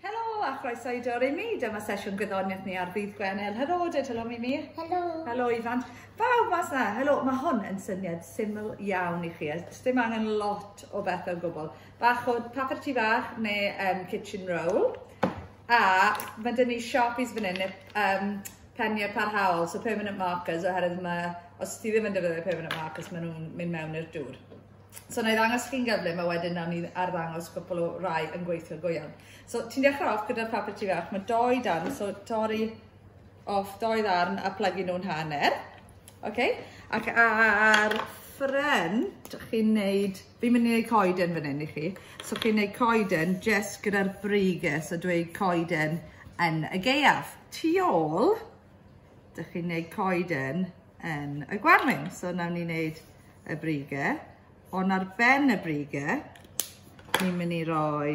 Helo a chroeso i Dor Imi. Dyma sesiwn gwyddoniaeth ni ar ddydd Gwener. Helo, dweud helo Mimi. Helo. Helo Ifan. Pawb mas na. Helo, mae hwn yn syniad syml iawn i chi. Ys dim angen lot o beth o gwbl. Bach o papur tu fach neu um, kitchen roll. A mae dyn ni Sharpies fan hyn, um, peniau parhaol, so permanent markers, oherwydd mae, os ti ddim yn defnyddio permanent markers, maen nhw'n mynd mewn i'r dŵr. So na i ddangos chi'n gyflym a wedyn nawn ni arddangos cwpl o rai yn gweithio go iawn. So ti'n dechrau off gyda'r papur tu fach, mae doi dan, so torri off doi ddarn a plygu nhw'n hanner. Okay? Ac ar ffren, chi'n neud, fi'n mynd i neud coeden fan hyn i chi, so chi'n neud coeden jes gyda'r briges a dweud coeden yn y geiaf. Tu ôl, dych chi'n neud coeden yn y gwanwyn. So nawn ni wneud y brige. Ond ar ben y brige, ni'n mynd i roi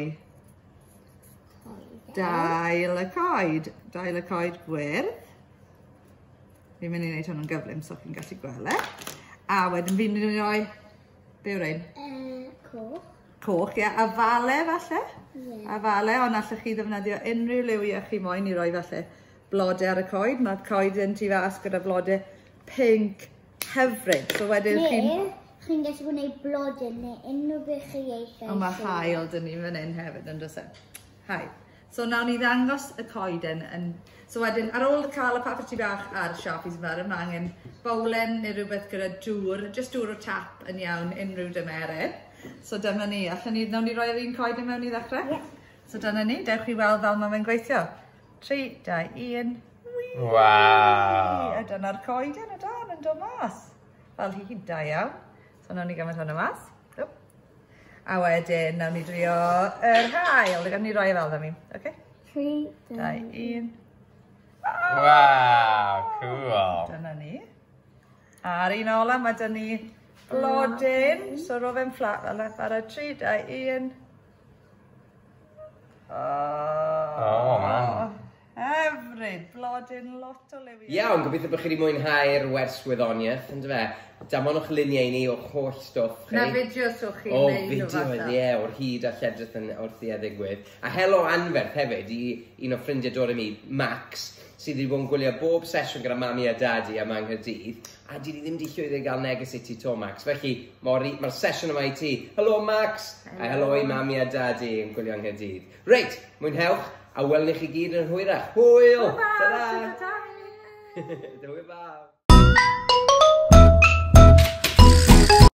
dail y coed. Dail y coed gwyrdd. Fi'n mynd i wneud hwnnw'n gyflym so chi'n gallu gweld e. A wedyn fi'n mynd i roi... Be yw'r ein? Uh, coch. Coch, ie. Yeah. A fale falle? Ie. Yeah. A fale, ond allwch chi ddefnyddio unrhyw liwiau chi moyn i roi falle blode ar y coed. Mae'r coed yn tu fas gyda blode pink hyfryd. So wedyn ne, chi'n... chi'n gallu gwneud blode neu unrhyw beth chi eisiau. Ond mae hael dyn ni fan hyn hefyd yn dros e. Hael. So nawr ni ddangos y coeden yn... So wedyn, ar ôl cael y papur tu bach a'r sharpies yn fawr, mae angen bowlen neu rhywbeth gyda dŵr, just dŵr o tap yn iawn, unrhyw dymeryn. So dyma ni, allan ni, nawr ni roi'r un coeden mewn i ddechrau? Yeah. So dyna ni, dewch i weld fel mae'n gweithio. 3, 2, 1. Waw! A dyna'r coed yn y dan yn dod mas. Fel hi hyd da iawn. So nawn ni gymryd hwnna mas. A wedyn, nawn ni drio yr hael. Gawn ni roi e fel da mi. Okay? 3, 2, 1. Waw, cool. Dyna ni. A'r un ola, mae dyn ni blodyn. So rofem fflat fel yna. Bara 3, 2, 1. Oh, oh man. Hyfryd, blodyn lot o liwiau. Iawn, gobeithio bod chi wedi mwynhau'r wers wyddoniaeth, yn dyfa. Damonwch luniau i ni o'ch holl stwff chi. Na fideos o'ch chi'n neud o fideos, falle. ie, yeah, o'r hyd a lledrith yn wrth i eddigwydd. A helo anferth hefyd i un o ffrindiau dod i mi, Max, sydd wedi bod yn gwylio bob sesiwn gyda mami a dadi a mae Nghaerdydd. A dydi ddim 'di llwyddo i gael neges i ti 'to Max, felly mor i- ma'r sesiwn yma i ti. Helo Max! Helo. A helo i Mami a Dadi yn gwylio yng Nghaerdydd. Reit, mwynhewch, a welwn ni chi gyd yn hwyrach. Hwyl! Hwyl fawr! Ta-ra! Shwmae Dani! Hwyl fawr!